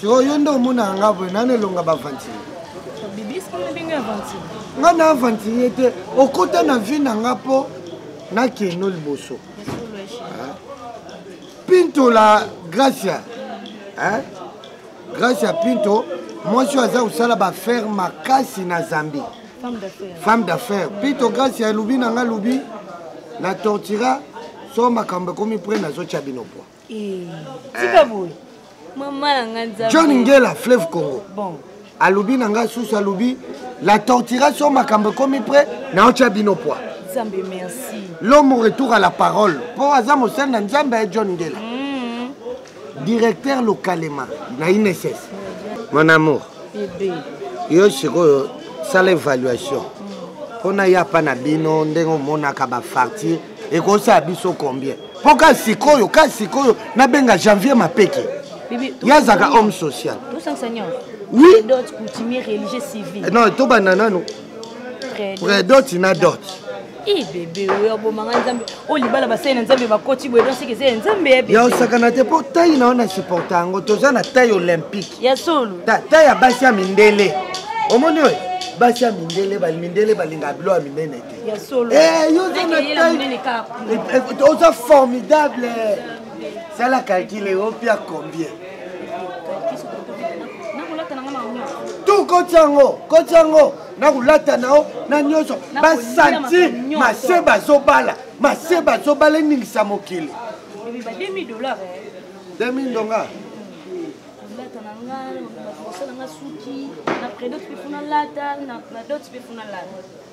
sikoyo yo nde omonaka nga boye nani elonga bavantire nga na avantire te okota na vie na nga mpo nakeno liboso pinto la gracia hein? gracia pinto mwasi oyo aza kosala baaffaire makasi na zambie femme d'affaire pinto gracia elobi na nga lobi na tortira so makambo ekomi pre nazotya bino poa Eh, tika eh. boye mama na nga nzambe john ngela fleuve congo bon alobi na ngai susu alobi la torturation makambo ekomi pre naotya bino poi nzambe merci l'homme retour à la parole mpo aza mosali na nzambe ya john ngela mm. directeur lokalema na inss mon amour yo sikoyo sala évaluation mpo mm. na ya mpa na bino ndenge omonaka bafartire ekosala biso combien mpo ka sikoyo ka sikoyo nabenga janvier mapeke ye azalaka homme social oui non tobanda nano predot na dot eh, bebe oyo abomanga nzambe oyo oh, libala basali na nzambe bakoti boye don seke ezali ya nzambe ya bebe ya osakana te mpo tai na yo na supporta yango toza na tai olympique ya solo tai ya basi ya mindele omoni oyo basi ya mindele mindele balingaka bilo ya minene te Eh, oza formidable sala calcule opia combien tu koti yango koti yango na kolata na yo na nyonso basanti mase bazobala mase bazobala eningisa mokili 2000 ndonga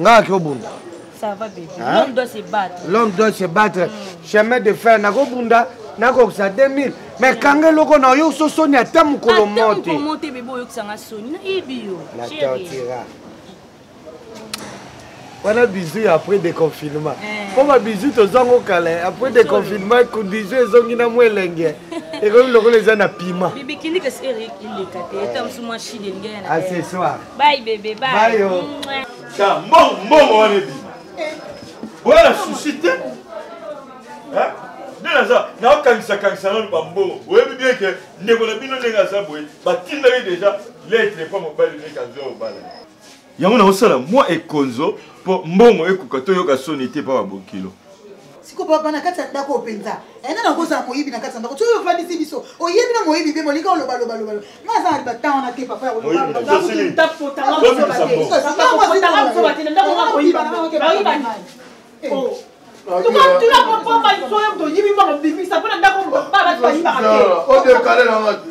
nga akobunda ça va bébé hein? l'homme doit se battre l'homme doit se battre mm. chemin de fer nakobunda nakokisa 2000 mais kanga eloko na yo so soni ata mokolo mote mote bebe oyokisanga soni nayebi yo na tortira wana bizu ya après déconfinement mpo eh. babizu tozwango kala après déconfinement kudizu ezongi na mwa elenge ekomi lokola eza na pima accessoire Bye bébé, bye. Bye. Oh. Tiens, mbongo, mbongo wana ebima. Boya na souci te. Hein? nde naza naokangisa kangisa nano bambongo oyebi bien ke ndeko na bino ndenge aza boye batindaki deja letre mpo mobali ndenge azwa obala yango naosala mwa ekonzo mpo mbongo ekoka toyoka soni te mpo babokilo sikoyo bana kati ya ndako oyo mpenza ena na kozala moyibi na kati ya ndako soki ofandisi biso oyebi na moyibi mpe molinga oloba loba loba loba nga aza na batemp wana te papa toyibi mbango bimisa mpo na ndako odekale nanga te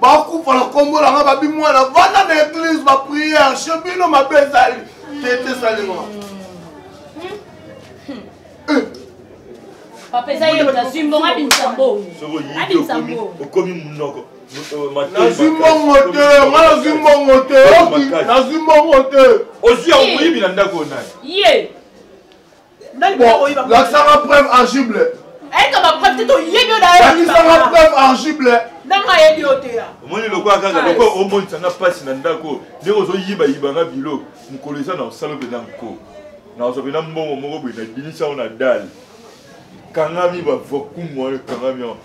bakufa na nkombo na nga babi mwana vanda na eglise bapriere che bino mabe ezali tete esalema papa eza ye nazwi mbongo abimisa mbongo abimisa mbongo okomi monoko nazwi mbongo te nga nazwi mbongo te nazwi mbongo te ozwi yango moyibi na ndako naye lakisanga preuve argible ayeka bapreuve te toyebi olakisanga preuve argible ndanga ayebi yo te omoni lokola kaka lokola omonisa nga mpasi na ndako ndenge ozoyibayiba nga bilo mokolo eza na osala mpenza nko nazwa mpenza mbongo moko boye nabinisa yango na dale kangami bavokumu wana ekangami yango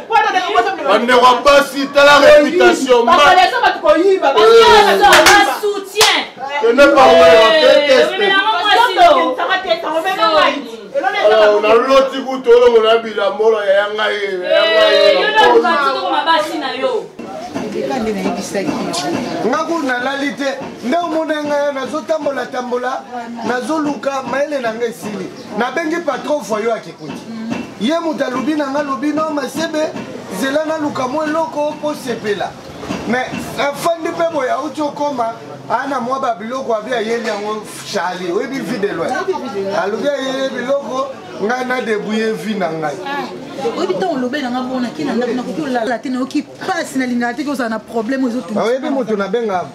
bandeko ya basi tala reputation naloti kutu olongo na bilambola yaya ngai ngako nalali te nde omona ngai nazotambolatambola nazoluka mayele na ngai esili nabengi patro voyo akikuti ye moto alobi na nga lobi no masebe zela naluka mwa eloko mpo sepela me afandi mpe boye auti okoma ana mwa babiloko abi ayeli yango charli oyebi vi de loin alobi ayeli biloko ngai nadebouye vi na ngai ah, oyebi ntango olobeli nanga bonaki na ndako nakoki olala te nayoki mpasi nalingaka te ozala na problème ezotu oyebi moto nabenga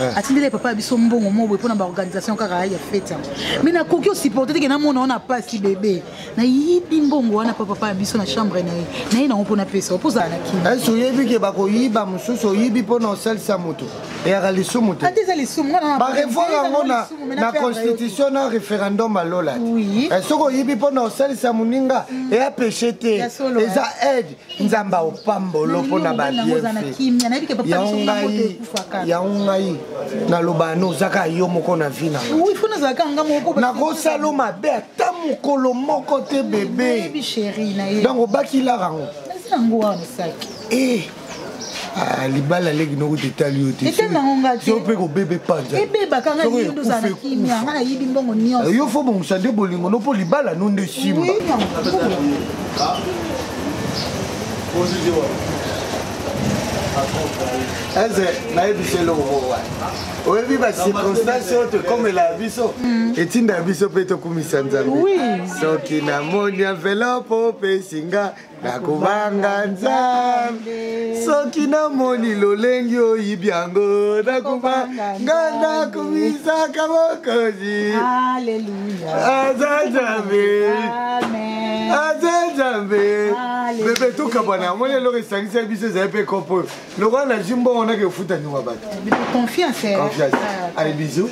eh. atindele papa ya biso mbongo moko boye mpo na baorganisation kaka ya fete yango mai nakoki osupporte teke namona wana pasi bebe nayibi mbongo wana mpo papa ya biso na chambre na ye naye nango mpo napesa mpo ozala na kini esi eh, oyebi ke bakoyiba mosusu oyibi mpo na osalisa moto eyaka lisumu te ata eza lisumu barevoir yango na constitution na référendum alola te eh, soki oyibi mpo na osalisa moninga mm. eya peche te eza aide nzambe aopambolo mpo na babienfeyango ngai yango ngai naloba no ozaka yo moko na vi nangakosala mabe ata mokolo moko te bebe donc obaki laka yango Ah, libala leki noko tetali yo tesope kobebe panzayo fo bongisa nde bolingo no mpo libala no nde simba eze nayebisa eloko wana oyebi bacirconstance oyo tokomela ya biso mm. etinda ya biso mpe tokumisa nzambe soki namoni envelope opesinga nakobanga nzambe soki namoni lolengi oyibi yango nakobanga nakomisaka mokozi aza nzambe aza nzambe bebe tokabwana yango lelo esangisa biso ezali mpe kopo lokola na zwi mbongo nake efutani wa bato eh, confiance eh. ale bizu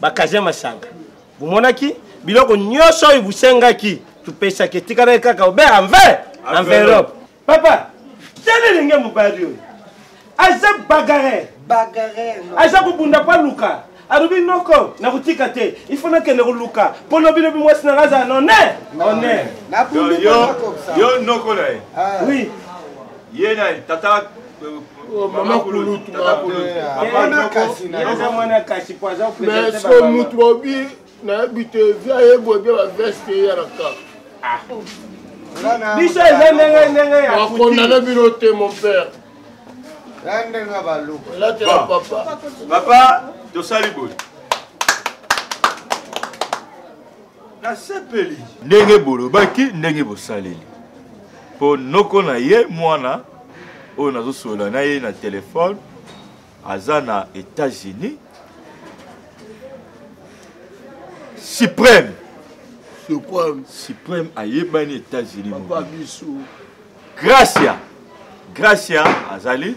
bakaze masanga bomonaki biloko nyonso oyo bosengaki topesaki etikalaki kaka obe enver enveloppe papa tala elenge mobali oyo aza bagare aza kobunda mpo aluka alobi noko nakotika te ifo nakende koluka mpo lobi lobi mwasi nanga azala none one yo noko na ye ah. oui ye na tata mama kulutu mais so mutu bobi nayebi te via yebwe bia baveste eyalaka biso eza ndenge ndenge ya bakondane bino te mon père elatela papa papa tosali boye nasepeli ndenge bolobaki ndenge bosaleli mpo noko na ye mwana oyo nazosolola na ye na telefone aza na états-unis suprême suprême suprême ayebani états-unis gracia gracia azali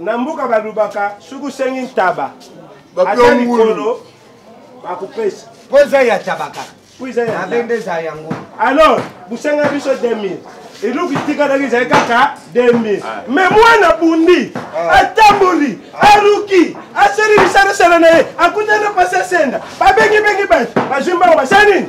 na mboka balobaka soki osengi ntaba ata likolo bakopesa mpo eza ya taba kaka mpo eza ya abe nde eza yango alors bosenga biso 2000 eloko itikalaki ezali kaka 2000 ah. me mwana bundi ah. atamboli ah. aluki asali bisalasala na ye akutana pasi asenda babengibengi bato bazwi mbango basali nini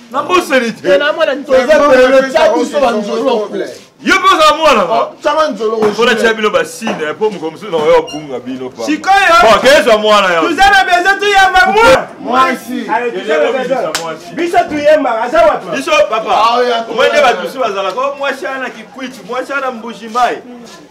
nabosani te yo mpe ozala mwana mpona tia bino basine mpo mokolo mosusu nakoya obunga bino pakezwa mwana yaoza na bezo toyamba mwasibiso toyembaka aza wabiso papa omoi nde bato mosusu bazalaka o mwasi ana kikwiti mwasi ana mbuji mai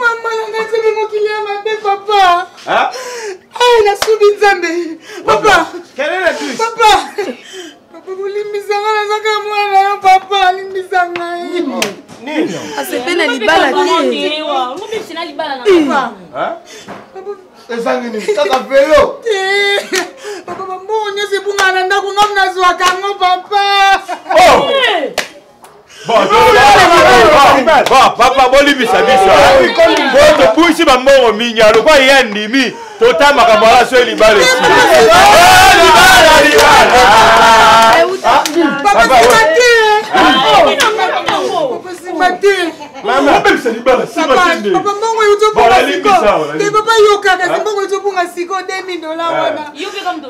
mama nanga nzambe mokili ya mabe papa ai nasubi nzambe papa papa papa kolimbisa nga nazaka mwana na yo papa alimbisa ngai asepe na libala te ezangi nini kaka velo papa bambongo nyonso ebungana ndako ngam nazwaka yango papa oh! papa bolibisa biso tobuisi bambongo minya lokwa ye andimi tota makambo ala so libala esibabongo eutobonga siko te papa yoka kasi bongo eutobonga siko 2000 dola wana